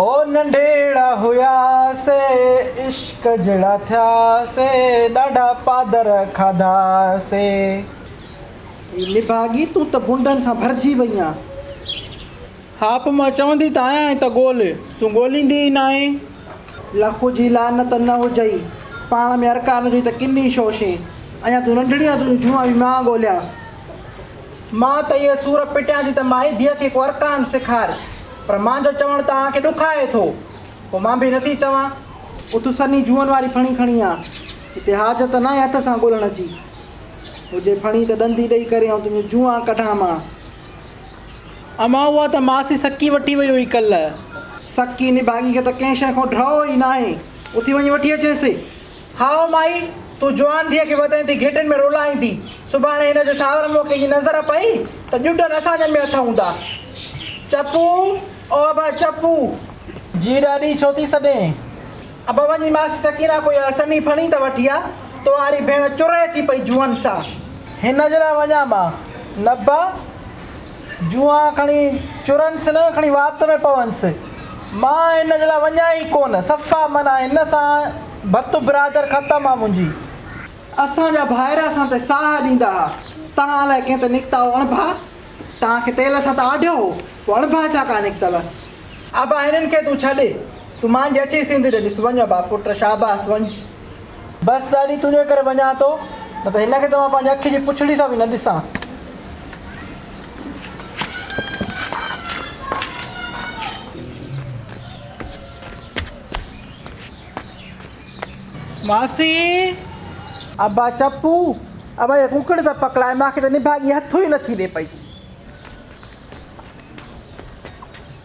او ننڍيڙا هياسي عشق جهڙا ٿياسي ڏاڍا پادر کاڌاسي. اي نڀاڳي تون ته غنڊن سان ڀرجي وئي آن. هاپ مان چوندي ته آيان ته ڳول تون ڳوليندي ئي ناهين. لک جي لعنت نه هجئي پاڻ ۾ ارڪان هجئي ته ڪني شوشين. اڃان تون ننڍڙي آن تنهنجون جوئان به مان ڳوليان. مان ته اهي سور پٽيان ٿي ته مائي ڌيء کي ڪو ارڪان سيکار، پر مان جو چوڻ توهان کي ڏکائي ٿو، پوء مان به نٿي چوان. اٿ سنهي جوئن واري ڦڻي کڻي آ، هتي حاجت ناهي هٿ سان ڳولڻ جي، هجي ڦڻي ته ڏندي ڏئي ڪري آئون تنهنجون جوئان ڪڍان مان. امان اها ته ماسي سڪي وٺي وئي هئي ڪلهه. سڪي نڀاڳي کي ته ڪنهن شيء کان ڊهه ئي ناهي، اٿي وڃي وٺي اچينس. هائو مائي! تون جوان ڌيء کي وتين ٿي گهٽين ۾ رولائيندين. سڀاڻي هن جي ساورن موکين جي نظر پئي ته ڄٽن اسان جن ۾ هٿ هوندا. چپو، او ابا چپو! جي ڏاڏي ڇو ٿي سڏين؟ ابا وڃي ماسي سڪينه کان اها سنهي ڦڻي ته وٺي آ. تو واري ڀيڻ چرئي ٿي پئي جوئن سان. هن جي لاء وڃان مان؟ نبا! جوئان کڻي چرنس نه کڻي وات ۾ پونس. مان هن جي لاء وڃان ئي ڪونه. صفا منع. هن سان ڀت برادر ختم آ منهنجي. اسان جا ڀائر اسان تي ساهه ڏيندا ها. تهان الائي ڪنهن تي نڪتا هو اڻڀا. تهان کي تيل اسان تي آڍيو هو. پوء اڻڀا ڇا ڪا نڪتل. ابا هنن کي تون ڇڏ. تون مانجهي اچي سنڌ ڏي ڏس. وڃ ابا پٽ شاباس وڃ. بس ڏاڏي تنهنجي ڪري وڃان ٿو نه ته هن کي ته مان پنهنجي اک جي پڇڙي سان به نه ڏسان. ماسي! ابا چپ! ابا هيء ڪوڪڙ ته پڪڙائي مان کي ته نڀاڳي هٿ ئي نٿي ڏي پئي.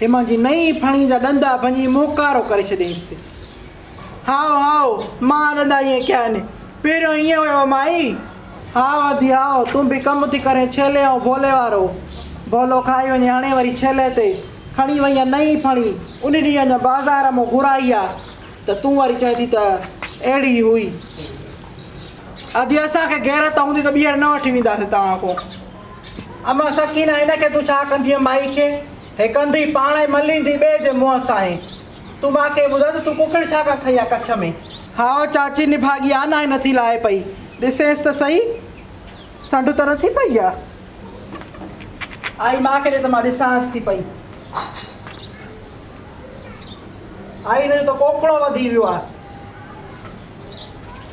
هي منهنجي نئين ڦڻي جا ڏندا ڀڃي موڪارو ڪري ڇڏيائينس. هائو هائو مان ڏندا ائين ڪيا آهن، پهريون ائين هيو مائي. هائو ادي هائو تون به ڪم ٿي ڪرين ڇيلي ۽ ڀولي وارو. ڀولو کائي وڃي هڻي وري ڇيلي تي کڻي وئينء نئين ڦڻي، ان ڏينهن اڃا بازار مون گهرائي ها ته تون وري چئين ٿي ته اهڙي ئي هئي. ادي اسان کي غيرت هوندي ته ٻيهر نه وٺي وينداسين توهان کان. امان سڪينه ان کي تون ڇا ڪندينء مائي کي هي ڪندي پاڻ ۽ مليندي ٻئي جي منهن سانهين تون مان کي ٻڌاء ته تون ڪڪڙ ڇا ڪا کئي آ ڪڇ ۾. هاء چاچي نڀاڳي آ ناهي نٿي لاهي پئي ڏسينس ته سهي سنڍ ته نٿي پئي آ آئي مان کي ڏي ته مان ڏسانس ٿي پئي آئي هن جو ته ڪوڪڙو وڌي ويو آ.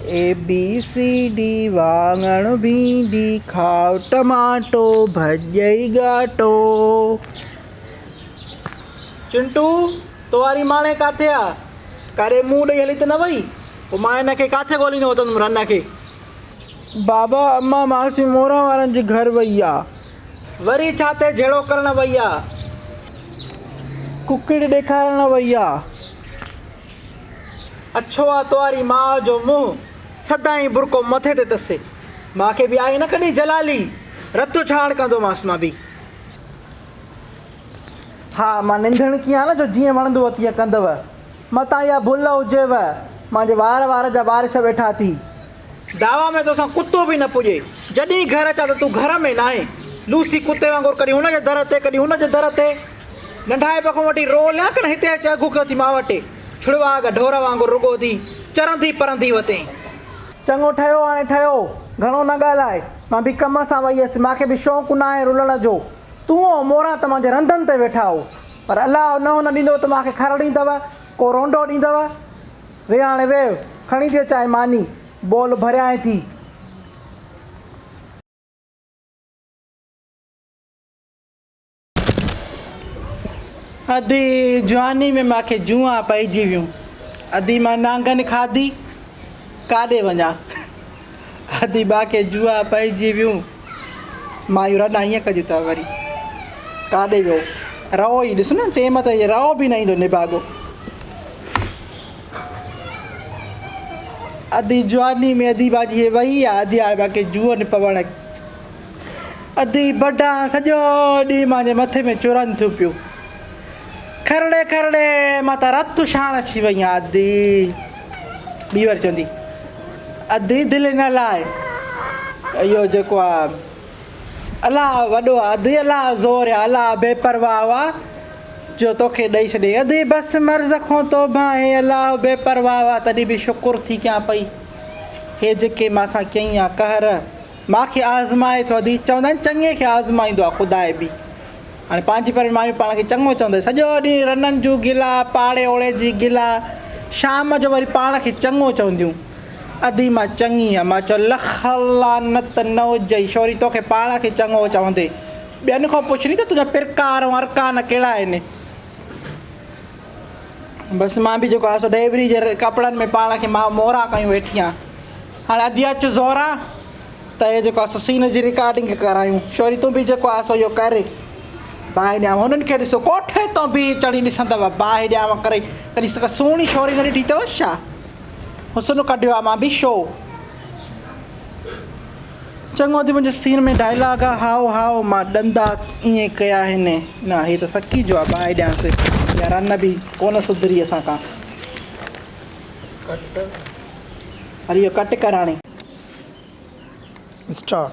اي بي سي ڊي واڱڻ ڀينڊي کاء ٽماٽو ڀڄئي ڳاٽو. چنٽو! تو واري ماڻي ڪاٿي آ؟ ڪاري منهن ڏئي هلي ته نه وئي؟ پوء مان هن کي ڪاٿي ڳوليندو وتندم رن کي؟ بابا! امان ماسي موران وارن جي گهر وئي آ. وري ڇا ٿئي جهيڙو ڪرڻ وئي آ. ڪڪڙ ڏيکارڻ وئي آ. اڇو آ تواري ماء جو منهن سدائين برقعو مٿي تي تسي ماء کي به آهي نه ڪڏهن جلالي رتو ڇاڙ ڪندومانس مان به ها مان ننڌڻ ڪيان نه جو جيئن وڻندو هو تيئن ڪندو متان اها ڀل هجيو مانجي وار وار جا وارث ويٺا ٿي دعويٰ ۾ توسان ڪتو به نه پڄي. جڏهين گهر اچان ته تون گهر ۾ ناهين. لوسي ڪتي وانگر ڪڏهين هن جي در تي ڪڏهين هن جي در تي. ننڍائپ کان وٺي روء لئه ڪن هتي اچي اگهو ڪيو اٿئي ماوٽي. ڇڙواڳ ڍور وانگر رڳو ڌي چرندي پرندي وتين. چڱو ٺهيو هاڻي ٺهيو. گهڻو نه ڳالهاء. مان به ڪم سان وئي هيس. مان کي به شوق ناهي رلڻ جو. تون ۽ موران توهان جي رندن تي ويٺا هئو. پر الله نه هن ڏيندو ته مان کي کر ڏيندؤ. ڪو رونڊو ڏيندؤ. ويهه هاڻي ويهه، کڻي ڏي چانهه ماني، بول ڀريانء ٿي. ادي جواني ۾ مان کي جونئان پئجي ويون، ادي مان نانگن کاڌي، ڪاڏي وڃان. اديبا کي جوئا پئجي ويون. مايون رڙ نه ائين ڪجون ته وري ڪاڏي ويو رئو ئي ڏس نه ٽيم تي رئو به نه ايندو نڀاڳو ادي جواني ۾ اديبا جي وئي آ اديبا کي جوئو نه پوڻ ادي بڊا سڄو ڏينهن مانجي مٿي ۾ چورن ٿيون پيون کرڙي کرڙي مان ته رت شاڻ اچي وئي آ ادي ٻي واري چوندي اڌي دل ان الاء اهو جيڪو آ الاء وڏو آ اڌي الاء زور يا الاء بي پرواهه وا جو توکي ڏئي ڇڏي اڌي بس مرض کون توبه هي الاء بي پرواهه وا تڏي به شڪر ٿي ڪيان پئي هي جيڪي مان سان ڪيئي آ قهر ماء کي آزمائي ٿو ادي چوندا آهن چڱي کي آزمائيندو آهي خدا به هاڻي پنهنجي پرين مايون پاڻ کي چڱو چونديون سڄو ڏينهن رنن جون گلا پاڙي اوڙي جي گلا شام جو وري پاڻ کي چڱو چونديون ادي مان چڱي آهيان ماء چيو لک لعنت نه هجئي شوري توکي پاڻ کي چڱو چوندي ٻين کان پڇ ني ته تنهنجا پرڪار ۽ ارڪان ڪهڙا آهن بس مان به جيڪو آهي سو ڊيوري جي ڪپڙن ۾ پاڻ کي ماء مورا ڪيون ويٺي آهيان هاڻي ادي اچ زهرا ته هي جيڪو آهي سين جي رڪارڊنگ ڪرايون شوري تون به جيڪو آهي سو اهو ڪر باهه ڏيانو هنن کي ڏسو ڪوٺي تو به چڙي ڏسندو آهي باهه ڏيانو ڪري ڪڏهن سڪا سهڻي شوري نه ڏٺي اٿو ڇا حسن ڪڍيو آهي مان به شو چڱو ٿي منهنجي سين ۾ ڊائلاگ آ هائو هائو مان ڏندا ائين ڪيا آهن نه هي ته سڪي جو آ باهه ڏيانس اها رن به ڪونه سڌري اسان کان هل اهو ڪٽ ڪر هاڻي اسٽارٽ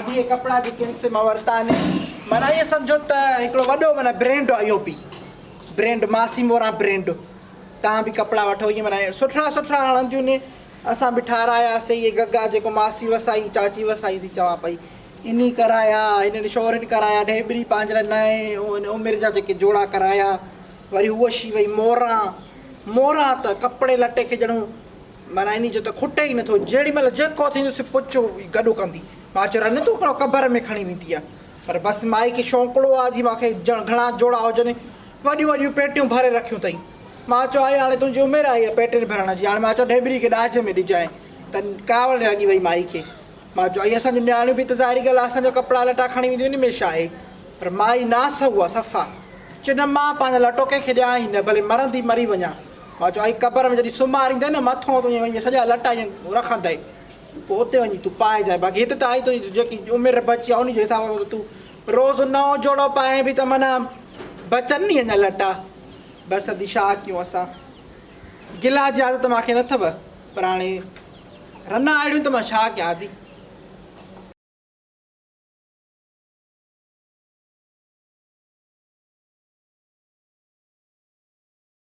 ادي ڪپڙا جي ڪن سي مان ورتا آهن معنيٰ ائين سمجهو ته هڪڙو وڏو معنيٰ برينڊ آهي اهو به برينڊ ماسي موران برينڊ تان به ڪپڙا وٺو ائين معنيٰ سٺا سٺا هڻنديون ني اسان به ٺاراياسي اهي گگا جيڪو ماسي وسائي چاچي وسائي ٿي چوان پئي اني ڪرايا اني شورين ڪرايا ڍيبري پنهنجي لاء نئين عمر جا جيڪي جوڙا ڪرايا وري هوشي وئي موران موران ته ڪپڙي لٽي کي ڄڻو مرايني جو ته کٽ ئي نٿو، جيڏي مهل جيڪو ٿيندو سي پچو ئي گڏو ڪندي، مان چيو رنگ تون ڪهڙو قبر ۾ کڻي ويندي آ، پر بس مائي کي شونڪڙو آ جي مان کي ڄڻ گهڻا جوڙا هجن، وڏيون وڏيون پيٽيون ڀري رکيون ٿئي، مان چيو آئي هاڻي تنهنجي عمر آئي آ پيٽين ڀرڻ جي، هاڻي مان چيو ڍيبري کي ڏاج ۾ ڏجانء، ته ڪاوڙ لڳي وئي مائي کي، مان چيو آئي اسان جون نياڻيون به ته ظاهري ڳالهه آ اسان جا ڪپڙا لٽا کڻي وينديون ان ۾ ڇا آهي، پر مائي ناسهو آ صفا، چيو نه مان پنهنجا لٽو ڪنهن کي ڏيان ئي نه، ڀلي مرندي مري وڃان. مان چيو ائين قبر ۾ جڏهن سمهاريندين نه مٿو تون ائين سڄا لٽا ائين رکندين پوء اتي وڃي تون پائجانء باقي هت ته آئي تنهنجي جيڪي عمر بچي آهي ان جي حساب سان تون روز نئون جوڙو پائين به ته معنيٰ بچن ني اڃا لٽا بس ادي ڇا ڪيون اسان گلا جي عادت مانکي نه اٿو پر هاڻي رنا اهڙيون ته مان ڇا ڪيان ادي